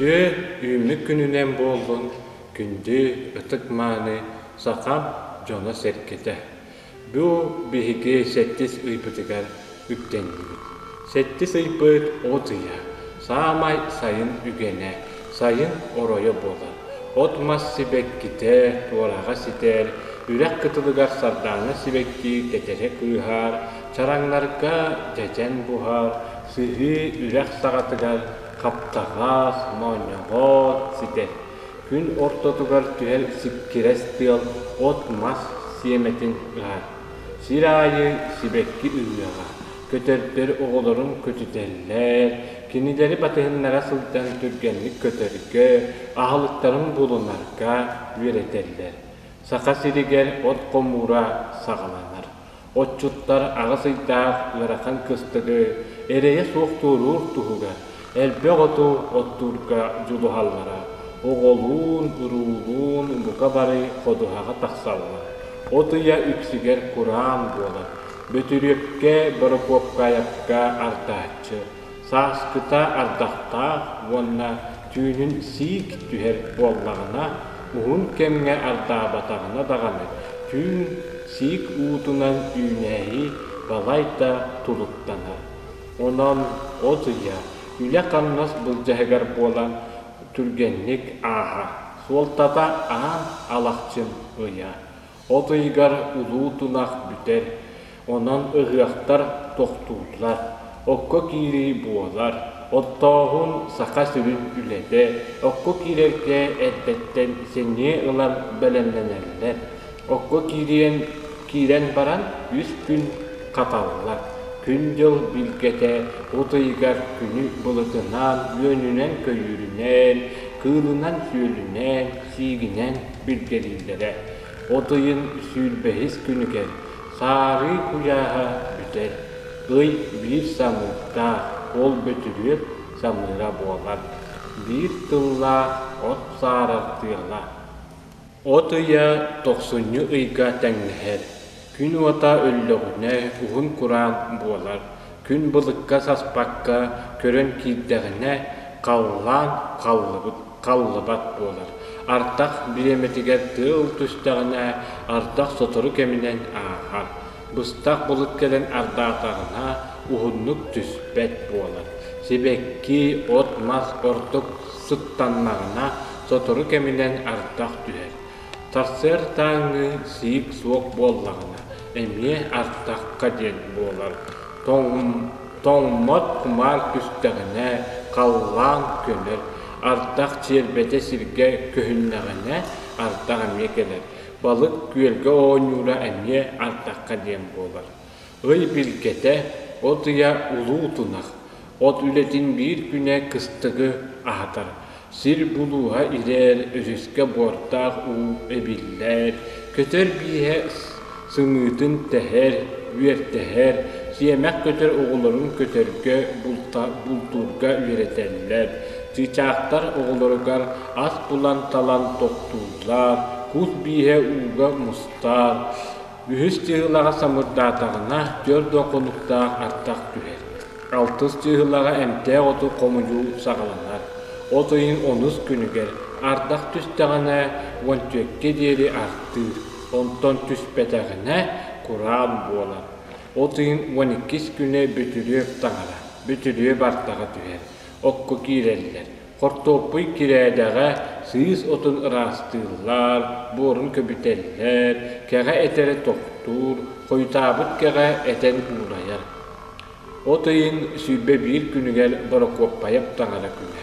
Үтүө үүммүт күнүнэн буоллун күндү ытык-мааны саха дьоно-сэргэтэ! Бу биһиги сэттис ыйбытыгар үктэннибит. Сэттис ыйбыт от ыйа, саамай сайын үгэнэ, сайын оройо буолар. От-мас сибэккитэ, туораҕа ситэр, үрэх кытылыгар сардааҥҥа сибэкки тэтэрэ кыыһаар, чараҥнарга дьэдьэн буһар, сыһыы үрэх саҕатыгар хаптаҕас, моонньоҕоот ситэр. Күн ортотугар түһэр сиккирэс тыал от-мас сиэмэтин ыһар. Сир аайы сибэкки ыһыаҕа, Көтөрдөр оҕолорун көтүтэллэр, кинилэри батыһыннара сылдьан түргэнник көтөргө, аһылыктарын булунарга үөрэтэллэр. Саха сиригэр от хомуура саҕаланар. Отчуттар аҕыс ыйдаах ыарахан кыстыгы, эрэйэ суох туоруур туһугар Элбэх оту оттуурга дьулуһаллара, оҕолуун-уруулуун умука бары ходуһаҕа тахсаллар. От ыйа үксүгэр кураан буолар. Бөтүрүөпкэ, борокуопкаайапка ардааччы, сааскыта ардахтаах уонна түүнүн сиик түһэр буоллаҕына, уһун кэмҥэ ардаабатаҕына даҕаны, түүн сиик уутунан үүнээйи балайда тулуктанар. Онон от ыйа, үлэ-хамнас былдьаһыгар буолан, түргэнник ааһа, суолтата Аа Алахчын ыйа. От ыйыгар улуу тунах бүтэр, онон ыһыахтар тохтууллар, окко киирии буолар. Оттооһун Саха сирин үлэтэ окко киирэргэ эрдэттэн сэниэ ылан бэлэмнэнэллэр. Окко киирэн, киирэн баран үс күн хаталла. Күн-дьыл билгэтэ утуйугар күнү былытынаан, үөнүнэн-көйүүрүнэн, кыылынан-сүөлүнэн, сиигинэн билгэлииллэрэ. Утуйун сүүрбэһис күнүгэр саарыы куйааһа бүтэр. Ый биир самыырдаах, ол бөтүрүөт самыыра буолар. Биир тыллаах от саарар тыала. От ыйа тохсунньу ыйга тэҥнэһэр, күн уота өллөҕүнэ уһун кураан буолар, күн былыкка саспакка көрөн киирдэҕинэ халлаан халлыбат буолар, ардах бириэмэтигэр тыал түстэҕинэ ардах сотору кэминэн ааһар. быстах былыт кэлэн ардаатарына уһуннук түспэт буолар. Сибэкки, от-мас ордук сыттаннаҕына сотору кэминэн ардах түһэр. Сарсыардааҥҥы сиик суох буоллаҕына эмиэ ардахха диэн буолар. Тоҥ тоҥмот кумаар түстэҕинэ халлаан көнөр. Ардах чиэрбэтэ сиргэ көһүннэҕинэ ардах эмиэ кэлэр. Балык күөлгэ оонньуура эмиэ ардахха диэн буолар. Ый билгэтэ, от ыйа улуу тунах. От үлэтин биир күнэ кыстыгы аһатар. Сир булууһа ирээр, үсүскэ буортаах уу эбиллэр. Көтөр бииһэ сымыытын тэһэр, үөртэһэр. Сиэмэх көтөр оҕолорун көтөргө, бултуурга үөрэтэллэр. Чыычаахтар оҕолоругар ас булан талан тохтуур Лаах кут бииһэ ууга мустаат, үһүс чыыһылаҕа самырдаатаҕына, түөрт да хонуктаах артак түһэр. Алтыс чыыһылаҕа эмтээх оту хомудьу саҕаланар. От ыйын онус күнүгэр ардах түстэҕинэ, уон түөккэ диэри астыыр, онтон түспэтэҕинэ, кураан буолар. От ыйын уон иккис күнэ бүтүрүөп таҥара, бүтүрүөп артаҕа түһэр, окко киирэллэр. Хортуоппуй кирээдэҕэ сыыс отун ыраастыыллар, буорун көбүтэллэр, кэҕэ этэрэ тохтуур, хойутаабыт кэҕэ этэн уулайар. От ыйын сүүрбэ биир күнүгэр Борокуоппайап таҥара күнэ.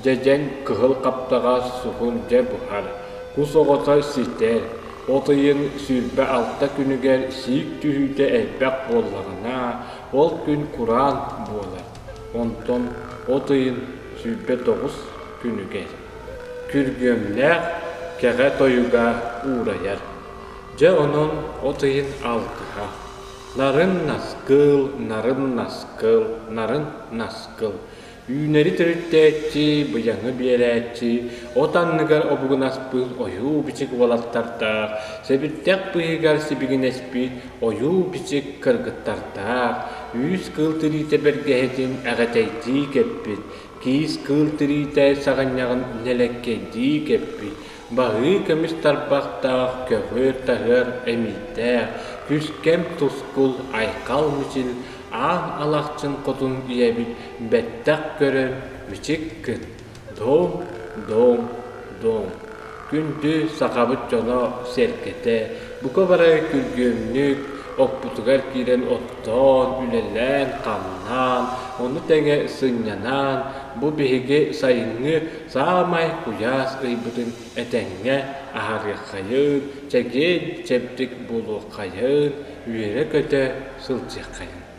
Дьэдьэн кыһыл хаптаҕас суһун дьэ буһар, кус оҕото ситэр. От ыйын сүүрбэ алта күнүгэр сиик түһүүтэ элбэх буоллаҕына, ол күн кураан буолар. Онтон от ыйын сүүрбэ тоҕус күнүгэ күргүөмнээх кэҕэ тойуга уурайар. Дьэ онон от ыйын алтыһа нарын наскыл, нарын наскыл, нарын наскыл үүнэри төрүттээччи, быйаҥы биэрээччи, от анныгар обугунаспыт ойуу-бичик уолаттардаах, сэбирдэх быыһыгар сибигинэспит Ойуу-бичик кыргыттардаах, үүс кыыл тириитэ бэргэһэтин эҕэтэйдии кэппит, киис кыыл тириитэ саҕынньаҕын нэлэккэйдии кэппит, баһыы көмүс тарбахтаах көҕүөр-таһыар эмиийдээх, күскэм тускул айхал мичил аан алахчын хотун ийэбит бэттэх көрөр бичик кыт Дом, дом, дом, күндү сахабыт дьоно, сэргэтэ, бука бары күргүөмнүк оппутугар киирэн оттоон, үлэлээн-хамнаан, ону тэҥэ сынньанаан, бу биһиги сайыҥҥы саамай куйаас ыйбытын этэҥҥэ аһарыаххайын, чэгиэн-чэбдик буолуоххайын, үөрэ-көтө сылдьыаххайын.